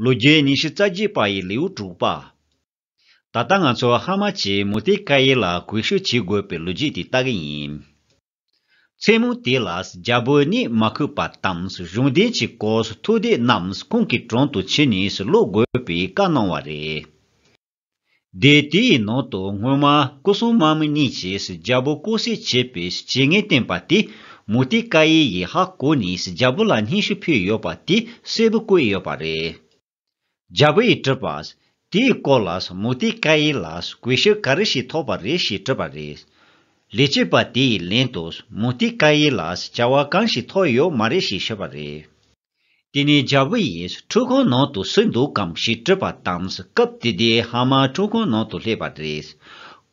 ལོ་རྒྱུས་ཉིན་ཞིག་རྩ་བརྒྱུད་པ་ཡི་ལེའུ་དྲུག་པ། ད་ལྟ་ང་ཚོ་ཧ་མ་ཅིས་མུ་སྟེགས་ཀ་ཡེ་ལ་གུས་ཞུ་བྱེད་དགོས་པའི་ལོ་རྒྱུས་དེ་ལྟ་གི་ཡིན། མཚན་མོ་དེ་ལ་རྒྱལ་པོའི་གནས་མ་གུས་པ་དང་གཞུང་ལྡན་གྱི་སྐོར་ཐུགས་བདེ་རྣམས་ཁོང་གི་དྲུང་དུ་ཕྱི་ནས་ལོག་དགོས་པའི་བཀའ་གནང་བ་རེད། སྡེ་དེའི་ནང་དུ་སྔོན་མ་སྐུ་སྲུང་དམག་མི་གཉིས་ཀྱིས་རྒྱལ་པོ་སྐུ་སྲས་བྱེད་པའི་བྱེད་ངན་བསྟན་པ་དེ་མུ་ཏིག་ཀ་ཡེ་ཡིས་ཧ་གོ་ནས་རྒྱལ་པོ་ལ་སྙན་ཞུ་ཕུལ་ཡོད་པ་དེ་གསལ་པོ་བཀོད་ཡོད་པ་རེད། རྒྱལ་པོ་ཡིས་དྲིས་པ། དེའི་སྐོར་ལ་མུ་ཏིག་ཀ་ཡེ་ལ་གུས་ཞབས་ག་རེ་ཞིག་ཐོབ་པ་རེད་ཞེས་དྲིས་པ་རེད། ལས་བྱེད་པ་དེའི་ལན་དུ་མུ་ཏིག་ཀ་ཡེ་ལ་བྱ་བ་གང་ཞིག་ཐོབ་ཡོད་མ་རེད་ཞེས་ཞུས་པ་རེད། དེ་ནས་རྒྱལ་པོ་ཡིས་ཁྲུས་ཁང་ནང་དུ་སུ་འདུག་གམ་ཞེས་དྲིས་པ་དང་སྐབས་དེ་དུས་ཧ་མ་ཁྲུས་ཁང་ནང་དུ་སླེབས་པ་རེད།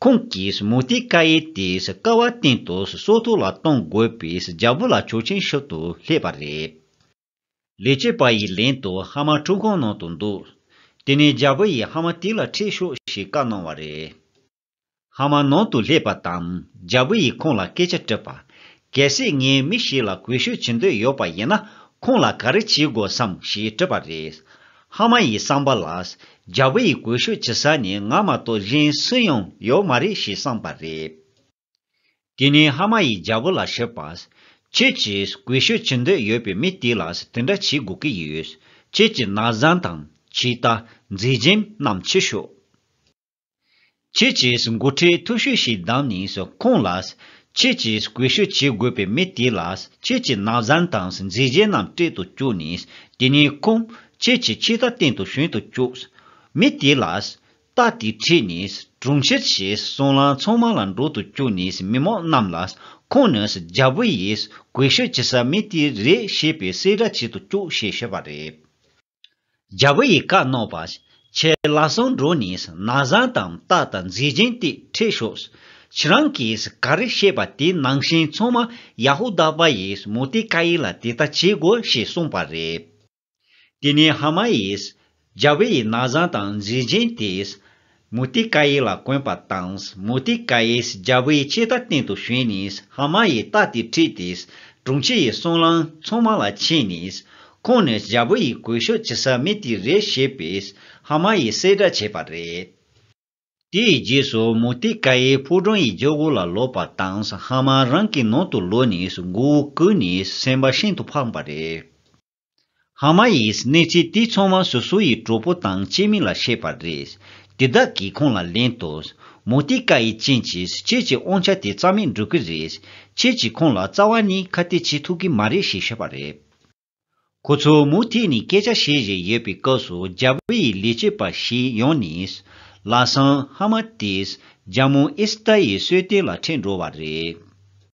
ཁོང་གིས་མུ་ཏིག་ཀ་ཡེ་དེས་སྐལ་བ་བསྟན་དུ་སོ་ཐུགས་ལ་གཏོང་དགོས་པས་རྒྱལ་པོ་ལ་ཆོག་མཆན་ཞུ་དུ་སླེབས་པ་རེད། ལས་བྱེད་པ་ཡི་ལན་དུ་ཧ་མ་ཁྲུས་ཁང་ནང་དུ་འདུག། དེ་ནས་རྒྱལ་པོ་ཡིས་ཧ་མ་ཏིག་ལ་ཁྲིད་ཤོག་ཞེས་བཀའ་གནང་བ་རེད། ཧ་མ་ནང་དུ་སླེབས་པ་དང་རྒྱལ་པོ་ཡིས་ཁོང་ལ་སྐད་ཆ་དྲིས་པ། གལ་སྲིད་ངའི་མི་ཞིག་ལ་གུས་ཞུ་བྱེད་འདོད་ཡོད་པ་ཡིན་ན་ཁོང་ལ་ག་རེ་བྱེད་དགོས་སམ་ཞེས་དྲིས་པ་རེད། ཧ་མ་ཡི་བསམ་པ་ལ། རྒྱལ་པོ་ཡིས་གུས་ཞུ་བྱེད་ས་ནི་ང་མ་གཏོགས་གཞན་སུ་ཡང་ཡོད་མ་རེད་ཞེས་བསམ་པ་རེད། དེ་ནས་ཧ་མ་ཡིས་རྒྱལ་པོ་ལ་ཞུས་པ། ཁྱེད་ཀྱིས་གུས་ཞུ་བྱེད་འདོད་ཡོད་པའི་མི་དེ་ལ་དེ་འདྲ་བྱེད་དགོས་ཀྱི་ཡོད། ཁྱེད་ཀྱི་ན་བཟང་དང། ཕྱི་ལྟ། མཛེས་རྒྱན་རྣམས་ཕྱིར་ཤོག། ཁྱེད་ཀྱིས་མགོ་ཁྲིད་ཐུགས་ཤུགས་ཤིག་བདམས་ནས་ཁོང་ལ། ཁྱེད་ཀྱིས་གུས་ཞུ་བྱེད་དགོས་པའི་མི་དེ་ལ་ཁྱེད་ཀྱི་ནང་བཟང་དང་མཛེས་རྒྱན་རྣམས་སྤྲད་དུ་བཅུག་ནས་དེ་ནས་ཁོང་ཁྱེད་ཀྱི་ཕྱི་ཟླ་སྟེང་དུ་བྱོན་དུ་བཅུག། མི་དེ་ལ། རྟ་དེ་ཁྲིད་ནས་དྲུང་ཆེར་ཆེ་སོང་ལ་ཚང་མ་ལ་འགྲོ་དུ་བཅུག་ནས་མི་མང་རྣམས་ལ་ཁོང་ནི་རྒྱ་བོད་ཡིས་གུས་ཞུ་བྱེད་ས་མི་དེ་རེད་ཞེས་པའི་གསལ་བསྒྲགས་བྱེད་དུ་བཅུག་ཞེས་ཞུས་པ་རེད། རྒྱལ་པོ་ཡི་བཀའ་གནང་བ། ཁྱེད་བླ་བསང་འགྲོ་ནས་ན་བཟང་དང་རྟ་དང་མཛེས་རྒྱན་དེ་ཁྲིད་ཤོག། ཁྱེད་རང་གིས་ག་རེ་བཤད་པ་དེ་ནང་བཞིན་ཚང་མ་ཡ་ཧུ་དཱ་པ་ཡི་མོ་ཏའི་བཀའ་ཡིན་ལ་དེ་ལྟར་བྱེད་དགོས་ཞེས་གསུངས་པ་རེད། དེ་ནས་ཧ་མ་ཡིས། རྒྱལ་པོ་ཡི་ན་བཟང་དང་མཛེས་རྒྱན་དེ། མུ་ཏི་ཀ་ཡེ་ལ་གོན་པ་དང། མུ་ཏི་ཀ་ཡེས་རྒྱལ་པོའི་ཆས་རྟ་སྟེང་དུ་བྱོན་ནས་ཧ་མ་ཡི་རྟ་དེ་ཁྲིད་དེ། དྲུང་ཆེ་ཡི་སྲོང་ལམ་མཚོ་མ་ལ་ཕྱིན་ནས། ཁོང་ནི་རྒྱལ་པོ་ཡི་གོས་ཤོག་བྱི་ས་མི་དེ་རེད་ཞེས་པས་ཧ་མ་ཡི་གསལ་བསྒྲགས་བྱས་པ་རེད། དེའི་རྗེས་སུ་མུ་ཏི་ཀ་ཡེས་ཕོ་བྲང་ཡི་ཇོ་བོ་ལ་ལོག་པ་དང་ཧ་མ་རང་གི་ནང་དུ་ལོག་ནས་མགོ་བོ་བཀུག་ནས་སེམས་པ་ཤིན་ཏུ་འཕངས་པ་རེད། ཧཱ་མ་ཡིས་གནས་ཚུལ་དེ་ཚང་མ་སོ་སོ་ཡི་གྲོགས་པོ་དང་གཅེས་མིང་ལ་བཤད་པར་རེས། དེ་དག་གིས་ཁོང་ལ་ལན་དུས། མོ་ཏི་ཀ་ཡི་རྐྱེན་གྱིས་ཁྱེད་ཀྱི་དབང་ཆ་དེ་རྩ་མེད་འགྲོ་གི་རེད། ཁྱེད་ཀྱིས་ཁོང་ལ་རྩ་བ་ནས་ཁ་གཏད་བྱེད་ཐུབ་ཀྱི་མ་རེད་ཞེས་བཤད་པ་རེད། ཁོ་ཚོ་མུ་མཐུད་ནས་སྐད་ཆ་བཤད་བཞིན་ཡོད་པའི་སྐབས་སུ་རྒྱ་བོད་ཡི་ལས་བྱེད་པ་ཞིག་ཡོང་ནས། ལ་སང་ཧཱ་མ་དེས་རྒྱ་མོ་ཨིས་ཏར་ཡི་སྲོལ་གཏན་ལ་འཕྲད་འགྲོ་བ་རེད།